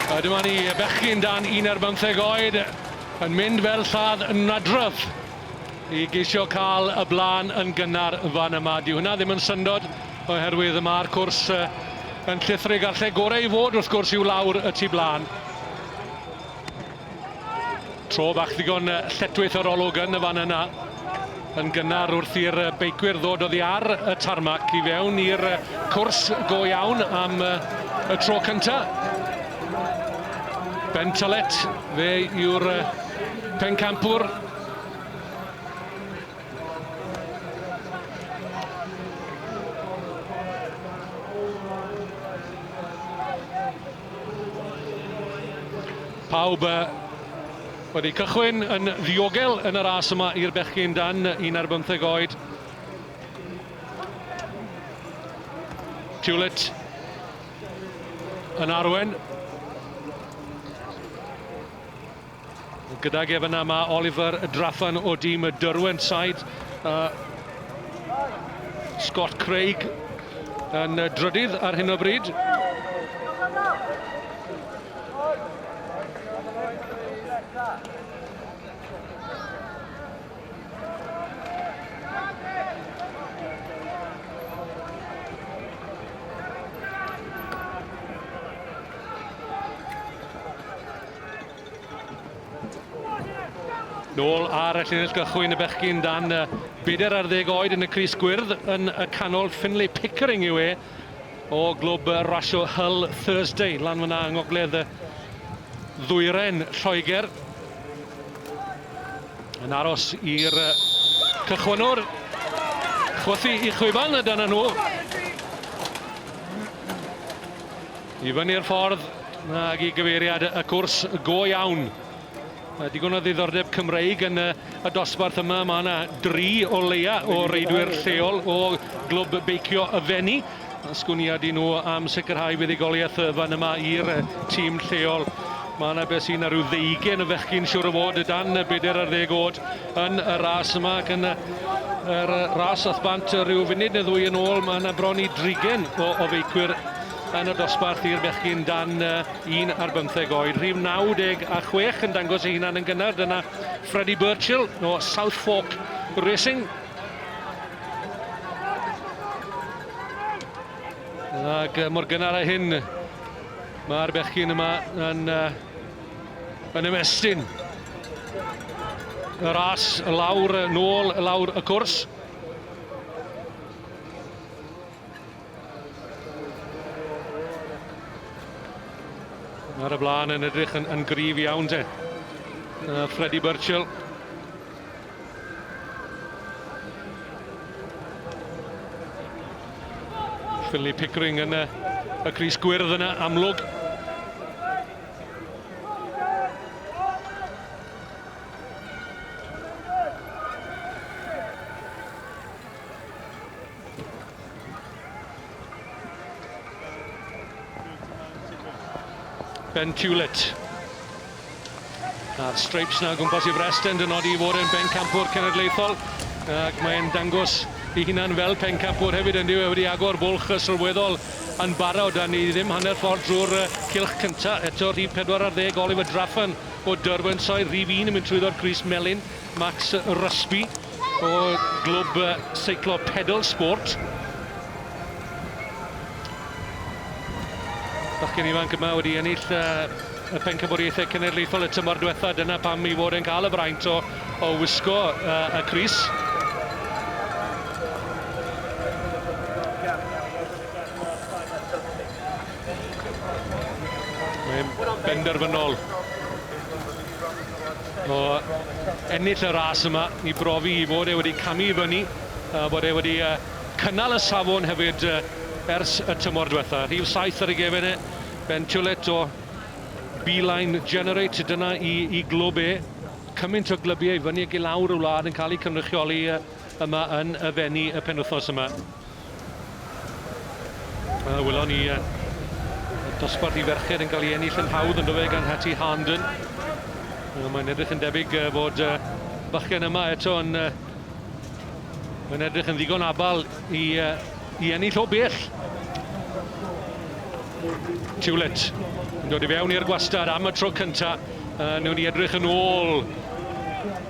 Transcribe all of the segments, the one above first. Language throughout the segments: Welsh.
A dyma ni y bechgyn dan un ar bymtheg oed yn mynd fel lladd yn nadrodd i geisio cael y blaen yn gynnar fan yma. Dyw hwnna ddim yn syndod oherwydd mae'r cwrs yn llithrig a'r lle gorau i fod wrth gwrs yw lawr y tu blaen. Tro bach ddigon lletwith o'r olwg yn y fan yna. Yn gynnar wrth i'r beicwyr ddod oddi ar y tarmac i fewn i'r cwrs go iawn am y tro cynta. Ben Tolet, fe yw'r pencampwr. Pawb wedi cychwyn yn ddiogel yn y ras yma i'r bechgyn dan un ar bymtheg oed. Tulet yn arwen. Gydag ef yna mae Oliver Draffan o dîm y Derwent Side. Uh, Scott Craig yn drydydd ar hyn o bryd. Nôl ar y llinell gychwyn y bechgyn dan y bedair ar ddeg oed yn y Cris Gwyrdd yn y canol. Finlay Pickering yw e o glwb rasio Hull Thursday lan fyna yng ngogledd y ddwyren Lloegr. Yn aros i'r cychwynwr chwythu i chwiban y dyna nhw. I fyny'r ffordd ag i gyfeiriad y cwrs go iawn. Mae digon o ddiddordeb Cymreig yn y, y dosbarth yma. Mae yna dri o leia o reidwyr lleol o glwb beicio y Fenni. Sgwniad i nhw am sicrhau fuddugoliaeth fan yma i'r tîm lleol. Mae yna beth sy'n rhyw ddeugen o fechgyn siwr o fod dan y bedair ar ddeg oed yn y ras yma ac yn y, yr ras ath bant rhyw funud neu ddwy yn ôl. Mae yna bron i drigen o, o feicwyr Yn y dosbarth i'r bechgyn dan 1 ar bymtheg oed, rhif 96 yn dangos ei hunan yn gynnar, dyna Freddie Birchill o South Fork Racing. Ac mor gynnar a hyn, mae'r bechgyn yma yn, uh, yn ymestyn y ras lawr, nôl, lawr y cwrs. Ar y blaen yn edrych yn, yn grif iawn de. Uh, Freddie Burchill. Philly Pickering yn y, y Cris Gwyrdd yna amlwg. Ben Hewlett. A'r streips na gwmpas i Freston yn nodi i fod yn bencampwr cenedlaethol ac mae'n dangos i hunan fel pencampwr hefyd yn diwy wedi agor bwlch sylweddol yn barod a ni ddim hanner ffordd drwy'r cilch cyntaf eto rhif 14 Oliver Draffan o Derwentshire rhif 1 yn mynd trwyddo'r Gris Melin Max Rusby o glwb seiclo Pedal Sport. Bachgen ifanc yma wedi ennill y pencampwriaethau cenedlaethol y tymor diwetha, dyna pam i fod yn cael y fraint o, o wisgo uh, y Cris. Mae'n benderfynol o ennill y ras yma i brofi i fod e wedi camu i fyny, a bod e wedi uh, cynnal y safon hefyd uh, ers y tymor diwetha. Rhif 7 ar ei gefen e, Ben Tulet o Beeline Generate, dyna i, i glwb e. Cymaint o glybiau fyny ac i lawr y wlad yn cael eu cynrychioli yma yn y fenni y penwthos yma. Wel, wylon ni y dosbarth i ferched yn cael ei ennill yn hawdd yn dyfe gan Hattie Harnden. Wel, mae'n edrych yn debyg fod y bachgen yma eto yn, yn edrych yn ddigon abal i, i ennill o bell. Tiwlet yn dod i fewn i'r gwastad am y tro cyntaf. Uh, newn ni edrych yn ôl.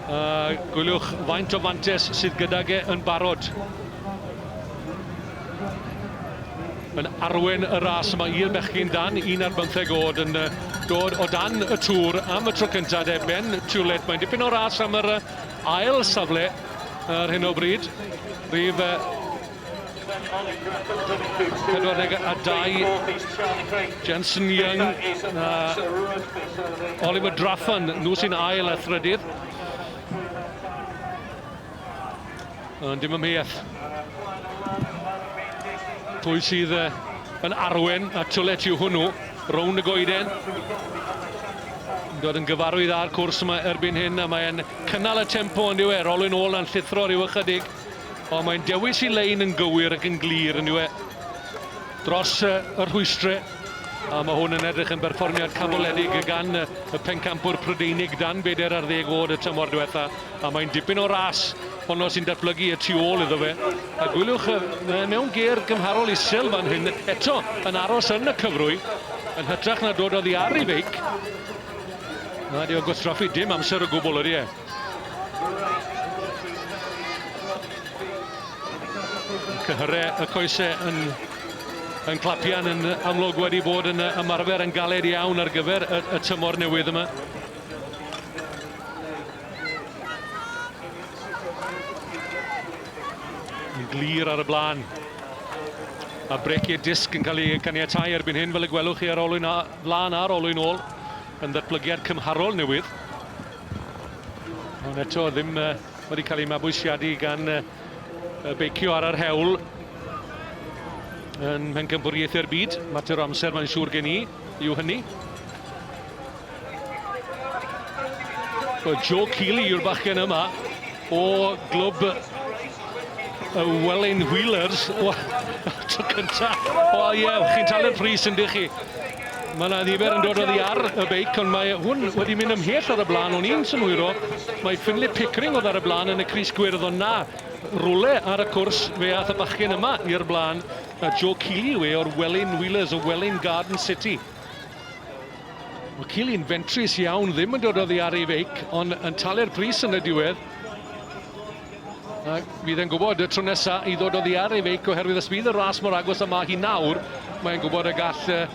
Uh, gwyliwch faint o fantes sydd gydag e yn barod. Yn arwain y ras yma i'r bechgyn dan un ar bymtheg oed yn dod o dan y tŵr am y tro cyntaf de, Ben Tulet. Mae'n dipyn o ras am yr ail safle ar hyn o bryd. Rhif 42, Jensen Young a Oliver Draffan, nhw sy'n ail a thrydydd. Ond dim ymheuaeth. Pwy sydd uh, yn arwen a twlet yw hwnnw, rownd y goeden. Yn dod yn gyfarwydd â'r cwrs yma erbyn hyn, a mae'n cynnal y tempo yn diwe, rolwyn ôl na'n llithro rhyw ychydig. Ond mae'n dewis i lein yn gywir ac yn glir yn diwe. Dros uh, y rhwystrau. A mae hwn yn edrych yn berfformiad canmoledig gan y pencampwr Prydeinig dan beder ar ddeg oed y tymor diwetha. A mae'n dipyn o ras honno sy'n datblygu y tu ôl iddo fe. A gwyliwch mewn ger gymharol isel fan hyn, eto yn aros yn y cyfrwy, yn hytrach na dod oddi ar ei feic. Na, di o gwastraffu dim amser o gwbl, ydy e? Cyhyrre y coese yn, yn clapian yn amlwg wedi bod yn ymarfer yn galed iawn ar gyfer y, y tymor newydd yma. Yn glir ar y blaen. A breciau disg yn cael ei caniatau erbyn hyn fel y gwelwch chi ar olwyn a, flan ar olwyn ôl yn ddatblygiad cymharol newydd. Ond eto ddim uh, wedi cael ei mabwysiadu gan uh, y beicio ar yr hewl yn pencampwriaethau'r byd. Mater o amser mae'n siŵr gen i yw hynny. Well, Joe Keeley yw'r bachgen yma. o glwb y Welin Wheelers. O, tro cynta. O ie, yeah, chi'n talu'r pris yn dych chi. Mae yna ddifer yn dod o ddi ar y beic, ond mae hwn wedi mynd ymhell ar y blaen o'n i'n synhwyro. Mae Finley Pickering oedd ar y blaen yn y Cris Gwyrdd, ond na, rwle ar y cwrs fe ath y bachgen yma i'r blaen. A Joe Keeley yw e o'r Welin Wheelers o Welin Garden City. Mae Cilyn fentrus iawn, ddim yn dod oddi ar ei feic, ond yn talu'r pris yn y diwedd. A fydd e'n gwybod y tro nesa i ddod oddi ar ei feic oherwydd os bydd y ras mor agos yma hi nawr, mae'n gwybod y gall uh,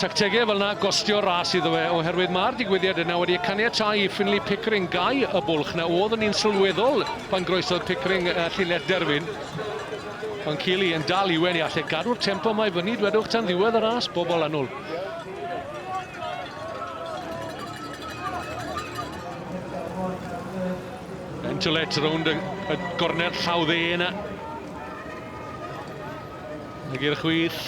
tactegau fel yna gostio ras iddo fe, oherwydd mae'r digwyddiad yna wedi caniatau i Finley Pickering gau y bwlch na oedd yn un sylweddol pan groesodd Pickering uh, llinell derfyn. Ond Keely yn dal i wen i allai gadw'r tempo yma i fyny dwedwch tan ddiwedd y ras bobl annwl. Bentolet rownd y, y gornel llaw dde yna. Ag i'r chwith.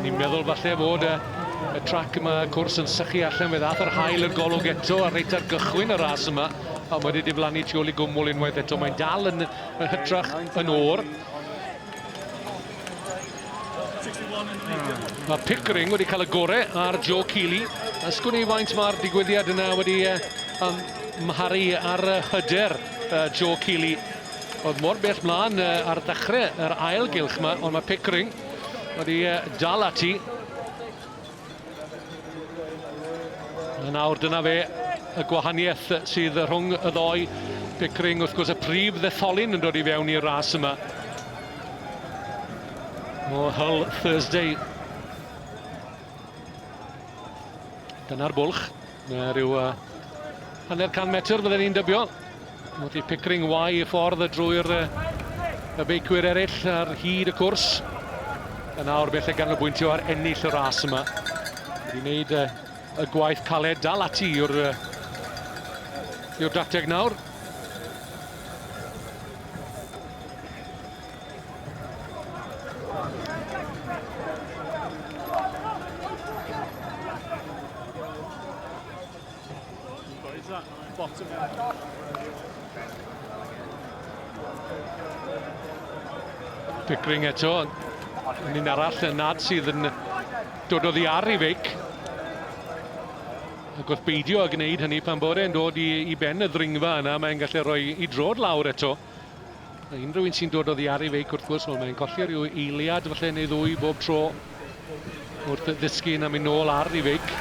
Ni'n meddwl falle fod y, y trac yma, y cwrs yn sychu allan fe ddath yr hael i'r golwg eto a reit ar gychwyn y ras yma a mae wedi diflannu tu ôl i gwmwl unwaith eto. Mae'n dal yn, yn hytrach yn o'r. Mae Pickering wedi cael y gore ar Joe Keeley. Ysgwn i faint mae'r digwyddiad yna wedi uh, um, mharu ar hyder uh, Joe Keeley. Oedd mor bell mlaen ar ddechrau yr ail gylch yma, ond mae Pickering wedi dal ati. A nawr dyna fe y gwahaniaeth sydd rhwng y ddoi. Pickering wrth gwrs y prif ddetholyn yn dod i fewn i'r ras yma. O Hull Thursday. Dyna'r bwlch. Mae rhyw uh, hanner can metr fydden ni'n dybio. Wedi Pickering wai y ffordd drwy'r y beicwyr eraill ar hyd y cwrs. A nawr bell y ganolbwyntio ar ennill y ras yma. Wedi wneud uh, y gwaith caled dal ati yw'r uh, yw'r dacteg nawr. Pickering eto, yn un arall yn nad sydd yn dod oddi ar ei feic. Ac wrth beidio a gwneud hynny pan bod e'n dod i, i ben y ddringfa yna, mae'n gallu rhoi i drod lawr eto. Unrhyw un sy'n dod o ddiaru feic wrth gwrs, wel mae'n colli rhyw eiliad falle neu ddwy bob tro wrth ddysgu yn am mynd nôl ar ei feic.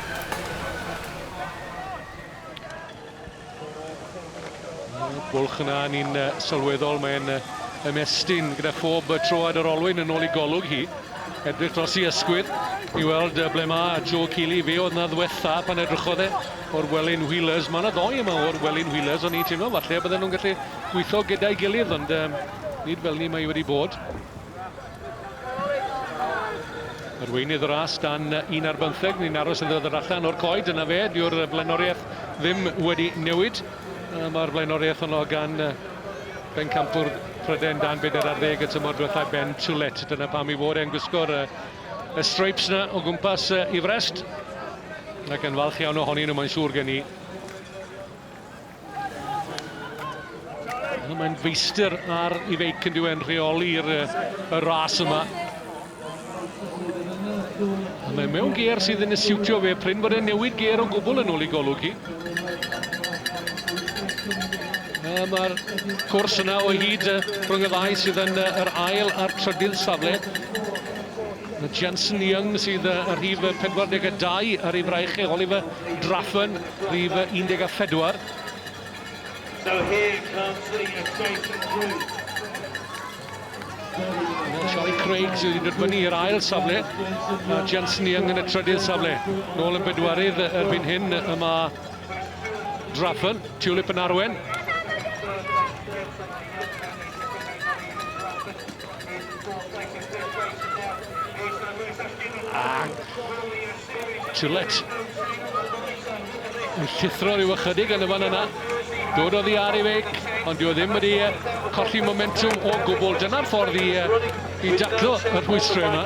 Bwlch yna ni'n sylweddol, mae'n ymestyn gyda phob troad yr olwyn yn ôl i golwg hi. Edrych dros i ysgwydd i weld ble mae Joe Keely. Fe oedd na ddwetha pan edrychodd e o'r Welin Wheelers. Mae yna ddoi yma o'r Welin Wheelers, o'n i'n teimlo falle bydden nhw'n gallu gweithio gyda'i gilydd, ond um, nid fel ni mae wedi bod. Arweinydd y ras dan un ar bymtheg, ni'n aros yn ddod allan o'r coed, yna fe, diw'r flaenoriaeth ddim wedi newid. Mae'r flaenoriaeth honno gan bencampwr Pryden dan bedair ar ddeg y tymor diwethaf Ben Tulet. Dyna pam i fod e'n gwisgo'r y streips na o gwmpas uh, i frest. Ac yn falch iawn ohonyn nhw, mae'n siŵr gen i. Mae'n feistr ar i feic yn diwedd yn rheoli'r y ras yma. A mae mewn geir sydd yn siwtio fe, pryn bod e'n newid geir o gwbl yn ôl i golwg hi. Mae'r cwrs yna o hyd rhwng y ddau sydd yn yr ail a'r trydydd safle. Mae Jensen Young sydd ar rhif 42 ar ei fraich e, Oliver Draffen, rhif 14. So here comes the adjacent group. Dyna Charlie Craig sydd wedi dod fyny i'r ail safle, a Jensen Young yn y trydydd safle. Nôl yn bedwarydd erbyn hyn, yma Draffen, Tulip yn arwen. A Gillett yn llithro rhyw ychydig yn y fan yna. Dod o ddi ar ei feic, ond dyw e ddim wedi e, colli momentum o gwbl. Dyna'r ffordd i, i daclo y rhwystrau yma.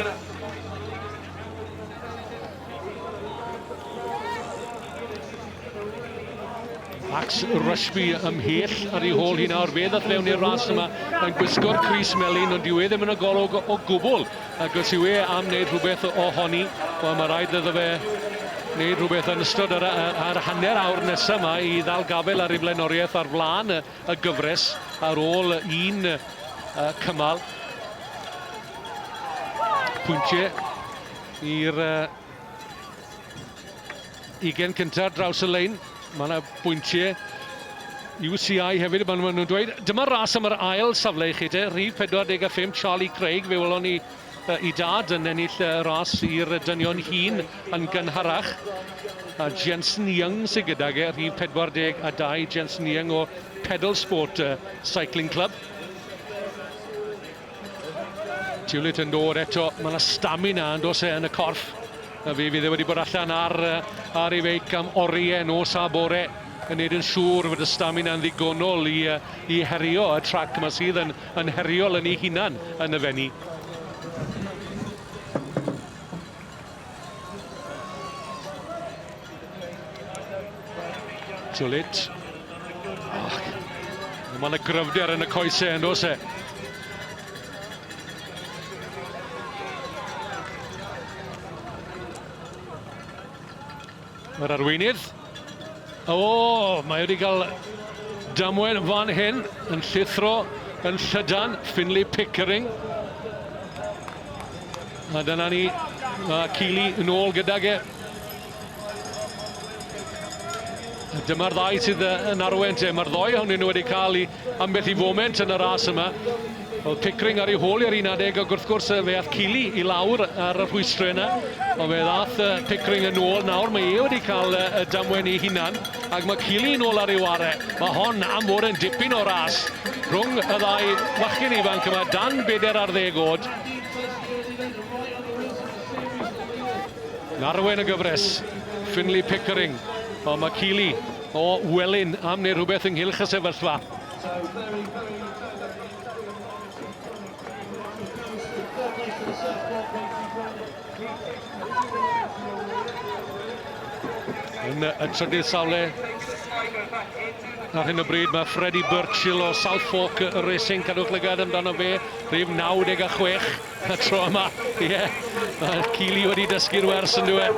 Max Rushby ymhell ar ei hôl hi nawr, fe ddath fewn i'r ras yma yn gwisgo'r Cris Melin, ond dyw e ddim yn y golwg o gwbl, ac os yw e am wneud rhywbeth o honi, wel mae rhaid iddo fe wneud rhywbeth yn ystod yr, yr hanner awr nesaf yma i ddal gafel ar ei flaenoriaeth ar flaen y, y gyfres ar ôl un uh, cymal. Pwyntiau i'r uh, ugen cyntaf draws y lein. Mae yna bwyntiau UCI hefyd, maen nhw'n dweud. Dyma ras am yr ail safle i chi te, rhif 45 Charlie Craig, fe welon ni uh, i dad yn ennill y ras i'r dynion hun yn gynharach. A Jensen Young sy'n gydag e, rhif 42, Jensen Young o Pedal Sport uh, Cycling Club. Tulit yn dod eto, mae yna stamina yn dos e yn y corff. A fe fydd e wedi bod allan ar, ar ei feic am oriau nos a bore yn neud yn siŵr fod y stamina yn ddigonol i, i herio y trac yma sydd yn, yn heriol yn ei hunan yn y fenni. Julit. Oh, Mae yna gryfder yn y coesau yn dos e. Yr arweinydd. O, mae wedi cael damwain fan hyn yn llithro yn llydan Finley Pickering. A dyna ni, mae Keely yn ôl gydag e. Dyma'r ddau sydd yn arwen te. Mae'r ddoi hwnnw wedi cael ei Ambell i foment yn y ras yma, oedd Pickering ar ei hôl i'r un adeg ac wrth gwrs fe ath Kiely i lawr ar y rhwystrau yna, ond fe ddath Pickering yn ôl nawr, mae e wedi cael y damwain ei hunan ac mae Kiely yn ôl ar ei ware. Mae hon am fod yn dipyn o ras rhwng y ddau fachgen ifanc yma dan beder ar ddeg oed. Narwen y gyfres, Finley Pickering, ond mae Kiely O Welyn am wneud rhywbeth ynghylch y sefyllfa. Yn y trydydd safle ar hyn o bryd mae Freddie Birchill o Southfork Racing, cadwch lygad amdano fe, rhif 96. Y tro yma, ie. Yeah. Mae Keely wedi dysgu'r wers yn dweud.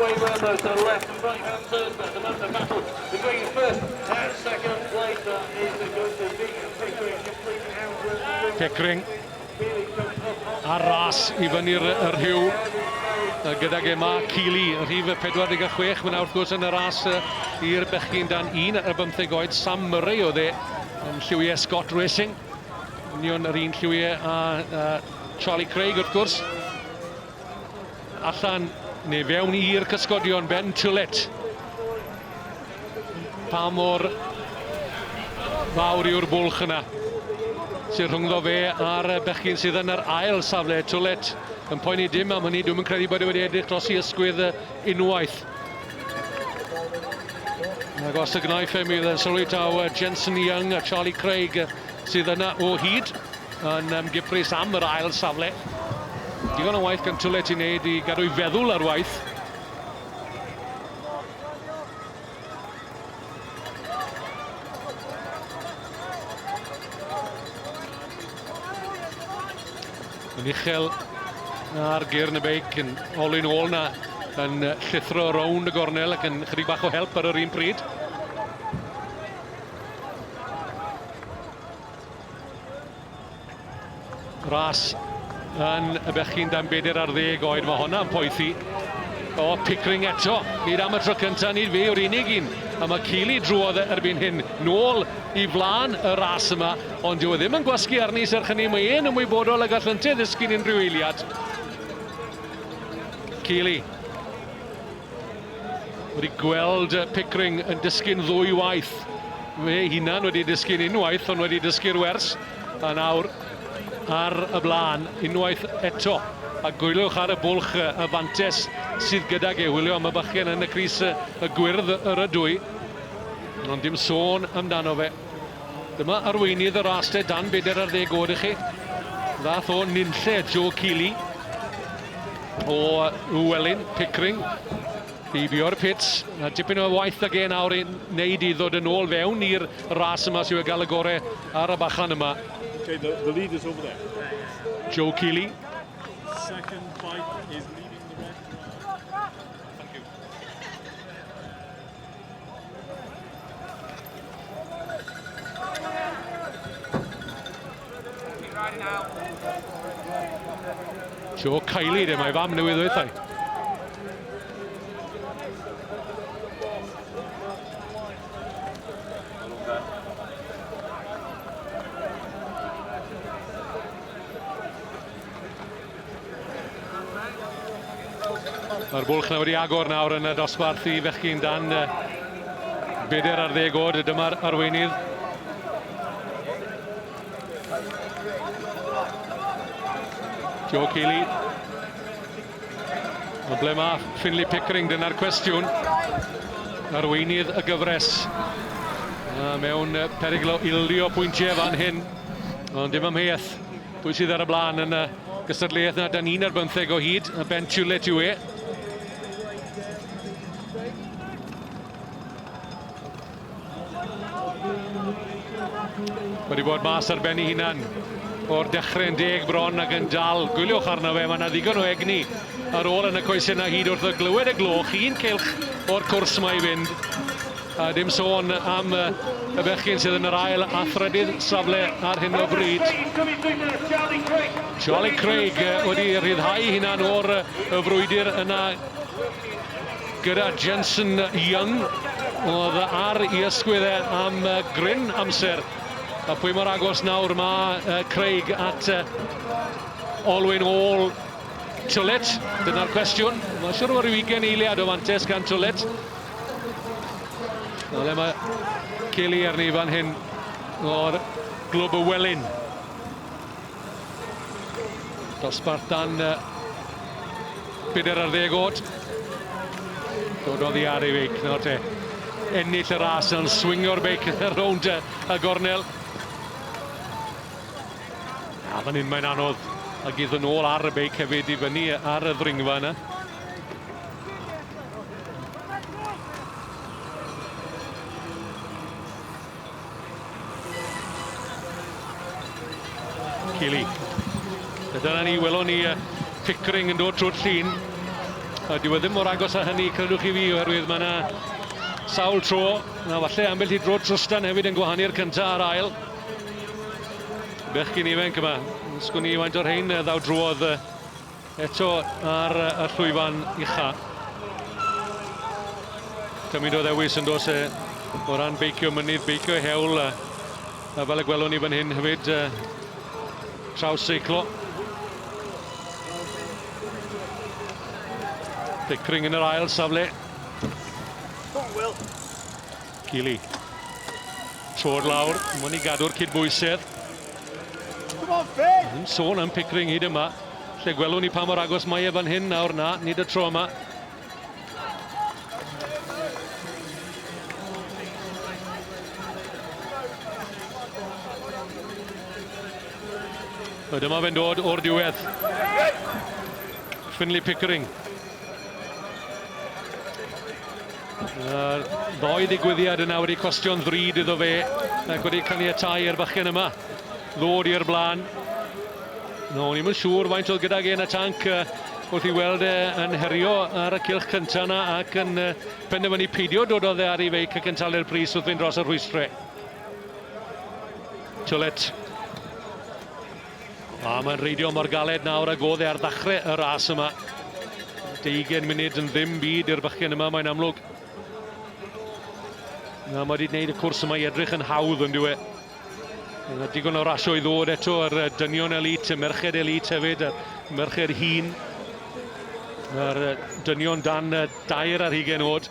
Pickering ar ras i fyny'r rhyw gydag Emma Keely, rhif 46. Mae'n wrth gwrs yn y ras i'r bechgyn dan un ar bymtheg oed. Sam Murray oedd e yn lliwiau Scott Racing. Union yr un lliwiau a Charlie Craig wrth gwrs. Allan neu fewn i'r cysgodion Ben Tullet. Pa mor fawr yw'r bwlch yna sy'n rhyngddo fe a'r bechgyn sydd yn yr ail safle. Tullet yn poeni dim am hynny, dwi'n yn credu bod e wedi edrych dros i ysgwydd unwaith. Ac os y gnaifem idd yn sylwi taw Jensen Young a Charlie Craig sydd yna o hyd yn um, gyffrus am yr ail safle. Digon o waith gan Tulet i wneud i gadw'i feddwl ar waith. Yn uchel ar gyr yn y beic yn olyn ôl na yn llithro rownd y gornel ac yn chydig bach o help ar yr un pryd. Ras yn y bechgyn dan bedair ar ddeg oed, mae hwnna'n poethi. O, Pickering eto, nid am y tro cyntaf, nid fe yw'r unig un. A mae Keely drwodd e erbyn hyn, nôl i flaen y ras yma, ond dyw e ddim yn gwasgu arni, serch hynny mae e'n ymwybodol a gall yntau ddysgu'n unrhyw eiliad. Keely Wedi gweld Pickering yn dysgu'n ddwy waith. Fe hunan wedi dysgu'n unwaith, ond wedi dysgu'r wers. A nawr ar y blaen, unwaith eto. A gwylwch ar y bwlch y fantes sydd gydag e. Wylio am y bychgen yn y Cris y gwyrdd yr ydwy. Ond dim sôn amdano fe. Dyma arweinydd y ras lle dan bedair ar ddeg oed i chi. Ddath o nunlle Joe Keeley o Uwelyn, Pickering. Heibio'r pits, a dipyn o waith ag e nawr i wneud i ddod yn ôl fewn i'r ras yma sy'n gael y gore ar y bachan yma. Okay, the, the lead is over there. Joe Keeley. Second bike is leading the red. Thank you. Joe Kylie, de, mae fam newydd oethau. Mae'r bwlch nawr wedi agor nawr yn y dosbarth i fechgyn dan beder ar ddeg oed. Dyma'r arweinydd. Jo Keely. Ond ble mae Finley Pickering? Dyna'r cwestiwn. Arweinydd y gyfres. Mewn perygl o ildio pwyntiau fan hyn. Ond dim amheuaeth. Pwy sydd ar y blaen yn y gystadleuaeth na da ni'n ar bymtheg o hyd, y Ben Tulet yw e. wedi bod mas ar ben ei hunan o'r dechrau yn deg bron ac yn dal gwyliwch arno fe. Mae yna ddigon o egni ar ôl yn y coesau yna hyd wrth y glywed y gloch. Un cilch o'r cwrs mae i fynd. A dim sôn am y bechgyn sydd yn yr ail a thrydydd safle ar hyn o bryd. Charlie Craig wedi rhyddhau hunan o'r y frwydr yna gyda Jensen Young oedd ar i ysgwydd e am gryn amser. A pwy mor agos nawr mae Craig at olwyn ôl Twlet? Dyna'r cwestiwn. Mae'n siŵr o ryw ugen eiliad o fantes gan Twlet. Na le mae Kelly arni fan hyn o'r glwb y Welyn. Dosbarth dan uh, byder ar ddeg oed. Dod oddi ar ei feic, nawr te. Ennill y ras yn swingio'r beic rownd y gornel. A fan hyn mae'n anodd a gydd yn ôl ar y beic hefyd i fyny ar y ddringfa yna. Keely. A dyna ni, welon ni uh, Pickering yn dod trwy'r llun. A dyw e ddim mor agos â hynny, credwch chi fi, oherwydd mae yna sawl tro, na falle ambell i dro trwstan hefyd yn gwahanu'r cyntaf a'r ail. Bechgyn ifanc yma, sgwn i faint o'r rhain ddaw drwodd uh, Eto ar y llwyfan ucha. Cymryd o ddewis yn dos e o ran beicio mynydd, beicio hewl, a fel y gwelwn ni fan hyn hefyd, traws seiclo. Pickering yn yr ail safle. Cromwell. Keely. Troed lawr, mwyn i gadw'r cydbwysedd. Yn sôn am Pickering hyd yma. Lle gwelwn ni pa mor agos mae e fan hyn nawr na, nid y tro yma. Dyma fe'n dod o'r diwedd. Finley Pickering. Yr ddoi ddigwyddiad yna wedi costio'n ddrud iddo fe ac wedi caniatau i'r fachgen yma ddod i'r blaen. No, ni'n mynd siŵr faint oedd gydag e yn y tanc wrth i weld e yn herio ar y cilch cyntaf yna ac yn penderfynu peidio dod o dde ar ei feic ac yn talu'r pris wrth fynd dros y rhwystrau. Tulet. A mae'n reidio mor galed nawr ag oedd e ar ddechrau y ras yma. 20 munud yn ddim byd i'r bychgen yma, mae'n amlwg. Na, mae wedi gwneud y cwrs yma i edrych yn hawdd, ond yw e? Yna digon o rasio i ddod eto ar dynion elit, y merched elit hefyd, a'r merched hun. Mae'r dynion dan dair ar hugen oed.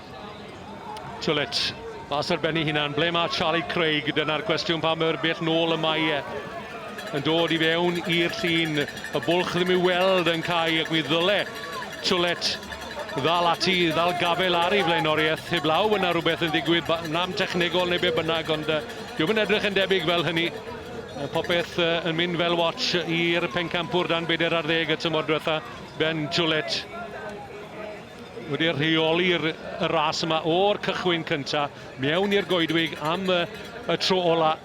Tulit, mas ar ben ei hunan, ble mae Charlie Craig? Dyna'r cwestiwn pa mor bell nôl y mae e yn dod i fewn i'r llun. Y bwlch ddim i'w weld yn cael ac mi ddyle Twlet ddal ati, ddal gafel ar ei flaenoriaeth. Heblaw fod yna rhywbeth yn ddigwydd, nam technegol neu be bynnag, ond uh, diwm yn edrych yn debyg fel hynny. Popeth uh, yn mynd fel watch i'r pencampwr dan beder ar ddeg y tymor diwetha, Ben Twlet. wedi rheoli y ras yma o'r cychwyn cynta mewn i'r goedwig am y, y tro ola.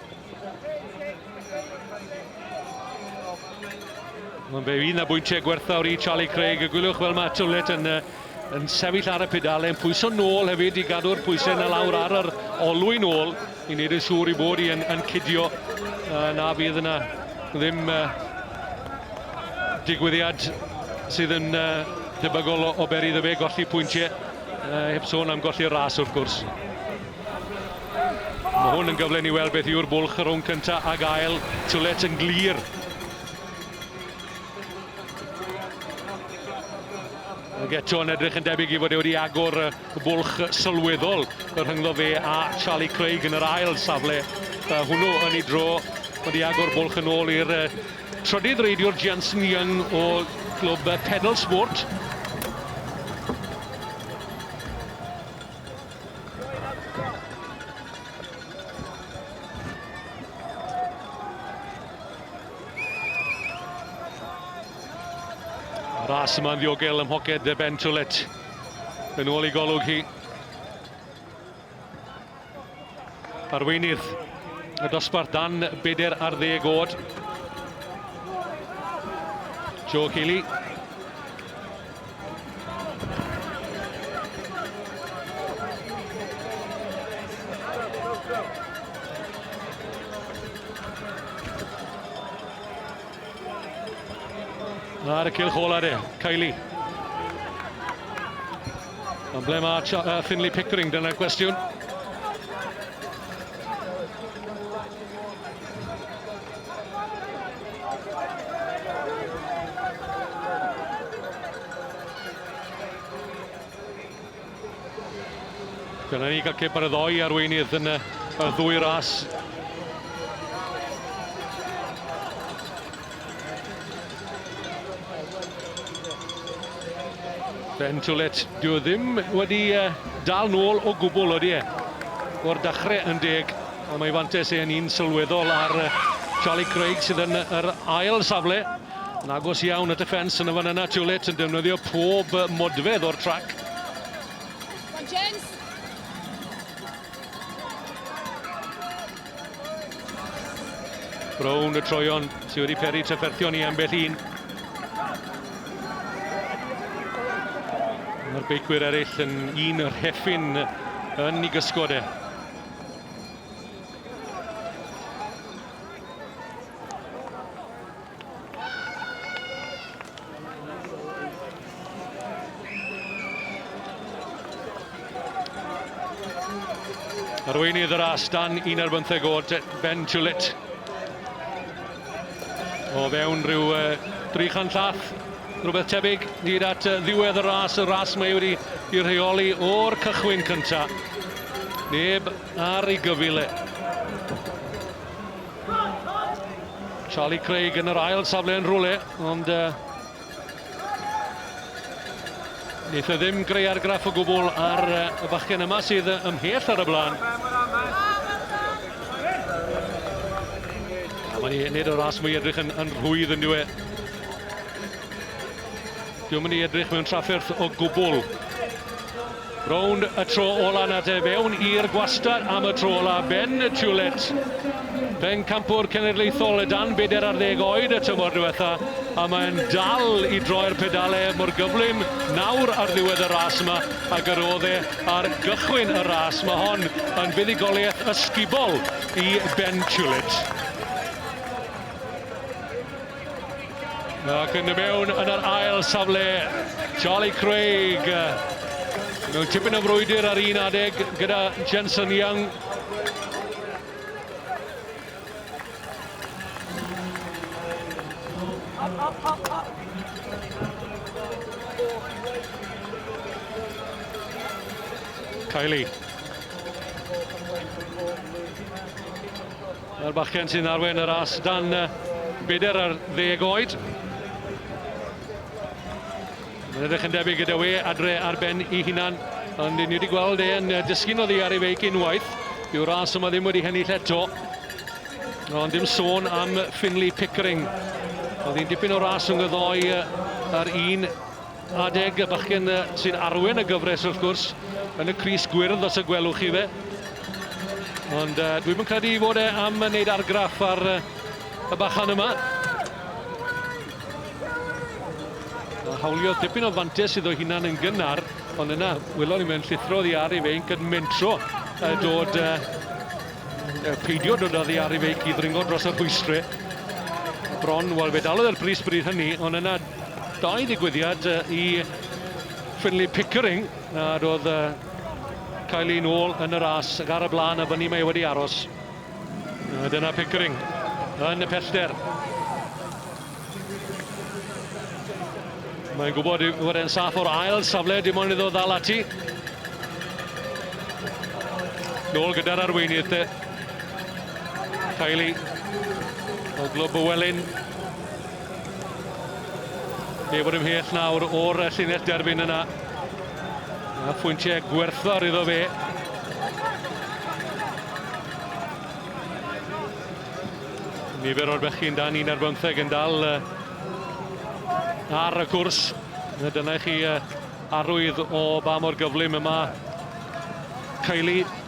Mae'n fe un a bwyntiau gwerthawr i Charlie Craig. Y gwylwch fel mae Tullett yn, yn sefyll ar y pedalen, pwyso nôl hefyd i gadw'r pwysau na lawr ar yr olwyn ôl. i wneud yn siŵr i bod i yn, yn cydio uh, na fydd yna ddim uh, digwyddiad sydd yn uh, debygol o, o beri iddo fe golli pwyntiau, uh, heb sôn am golli'r ras wrth gwrs. Mae hwn yn gyfle ni weld beth yw'r bwlch rhwng cyntaf ag ail, Tulet yn glir Geto yn edrych yn debyg i fod e wedi agor bwlch sylweddol y rhyngddo fe a Charlie Craig yn yr ail safle hwnnw yn ei dro. Wedi agor bwlch yn ôl i'r trydydd reidiwr Jensen Young o glwb Pedal Sport. Ras yma'n ddiogel ym mhoced dde Ben Tullet. Yn ôl i golwg hi. Arweinydd y dosbarth dan beder ar ddeg oed. Joe Healy. Ar y cilch ola de, Kylie. Ond ble mae uh, Finley Pickering, dyna'r gwestiwn. Dyna ni gael cip ar y ddoi arweinydd yn y, y ddwy ras. Ben Tulet, dwi e ddim wedi uh, dal nôl o gwbl, oeddi e? O'r dechrau yn deg, ond mae fantes e'n un sylweddol ar uh, Charlie Craig sydd yn yr ail safle. Yn agos iawn at y ffens yn y fan yna, Tulet yn defnyddio pob modfedd o'r trac. James! Rownd y troeon sydd wedi peri trafferthion i ambell un. Mae'r beicwyr eraill yn un o'r heffin yn ei gysgod e. Arweinydd y ras dan un ar bymtheg oed, Ben Tulit. O fewn rhyw uh, 300 llath, rhywbeth tebyg, hyd at uh, ddiwedd y ras, y ras mae wedi i rheoli o'r cychwyn cyntaf. Neb ar ei gyfile. Charlie Craig yn yr ail safle yn rhywle, ond uh, Neitha e ddim greu argraff o gwbl ar uh, y bachgen yma sydd ymhell ar y blaen. A mae'n ei nid o'r as mwy edrych yn, yn rhwydd yn diwe. Dwi'n mynd i edrych mewn trafferth o gwbl. Rownd y tro ola na de fewn i'r gwastad am y tro ola Ben Tulet, pencampwr cenedlaethol dan bedair ar ddeg oed y tymor diwetha a mae'n dal i droi'r pedale mor gyflym nawr ar ddiwedd y ras yma ag yr oedd e ar gychwyn y ras. Mae hon yn fuddugoliaeth ysgubol i Ben Tulet. Ac yn y mewn yn yr ail safle, Charlie Craig. Mewn tipyn o frwydr ar un adeg gyda Jensen Young. Kylie. Mae'r bachgen sy'n arwain y ras dan bedair ar ddeg oed. Mae'n edrych yn debyg gyda we adre ar ben i hunan, ond ni wedi gweld e'n dysgu'n oddi ar ei feic unwaith. Dyw ras yma ddim wedi hennill eto. Ond dim sôn am Finley Pickering. Oedd hi'n dipyn o ras rhwng y ddoi ar un Adeg y bachgen sy'n arwen y gyfres wrth gwrs, yn y Cris Gwyrdd os y gwelwch chi fe. Ond uh, dwi'm yn credu fod e am wneud argraff ar uh, y bachan yma. A hawlio dipyn o fantes iddo hunan yn gynnar, ond yna wylon ni mewn llithro ddi ar ei feinc yn mentro uh, dod... Uh, peidio dod oddi ar ei feic i ddringo dros y rhwystrau bron, wel fe dalodd e'r bris bryd hynny, ond yna Dau ddigwyddiad i Finlay Pickering nad oedd cael ei nôl yn y ras ac ar y blaen a fyny mae wedi aros. A dyna Pickering yn y pellter. Mae'n gwybod fod e'n saff o'r ail safle, dim ond iddo ddal ati. Nôl gyda'r arweinydd te. Kylie o Glwb y Welyn. Neb yn ymhell nawr o'r llinell derbyn yna. A phwyntiau gwerthfawr iddo fe. Nifer o'r bechgyn dan un ar bymtheg yn dal ar y cwrs. Dyna i chi arwydd o ba mor gyflym yma Kylie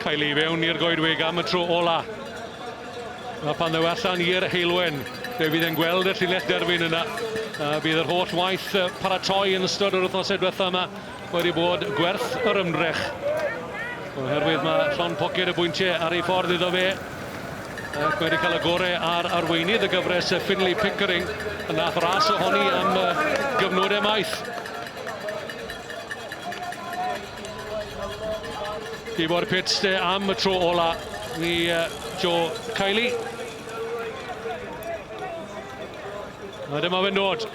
Cael ei fewn i'r goedwig am y tro ola. A pan ddew allan i'r heilwen, fe fydd e'n gweld y llinell derfyn yna. A bydd yr holl waith paratoi yn ystod yr wythnosau diwethaf yma Wedi bod gwerth yr ymdrech. Oherwydd mae llon poced y bwyntiau ar ei ffordd iddo fe. Ac wedi cael y gorau ar arweinydd y gyfres y Finley Pickering yn nath ras ohoni am gyfnodau maith. I fod pits de am y tro ola i Joe Kiley. A dyma fe'n dod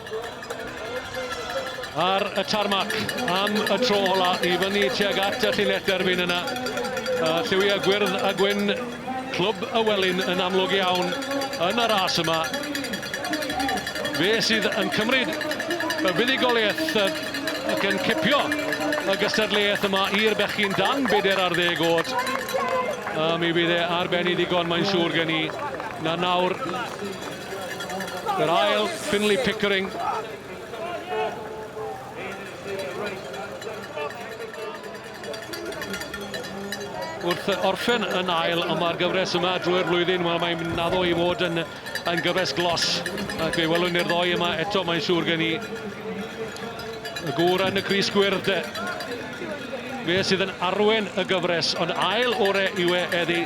ar y tarmac am y tro ola i fyny tuag at y llinell derfyn yna. Uh, lliwia gwyrdd a gwyn clwb y welyn yn amlwg iawn yn y ras yma. Fe sydd yn cymryd y fuddugoliaeth ac yn cipio y gystadleuaeth yma i'r bechgyn dan beder ar ddeg oed. A mi fydd e ar ben i ddigon, mae'n siŵr gen i. Na nawr, Yr ail, Finlay Pickering. Wrth orffen yn ail yma ar gyfres yma drwy'r flwyddyn, wel mae'n naddo i fod yn, yn gyfres glos. Ac fe welwn ni'r ddoi yma eto, mae'n siŵr gen i. Y gŵr yn y Cris Gwyrdd, fe sydd yn arwen y gyfres, ond ail ore yw e eddi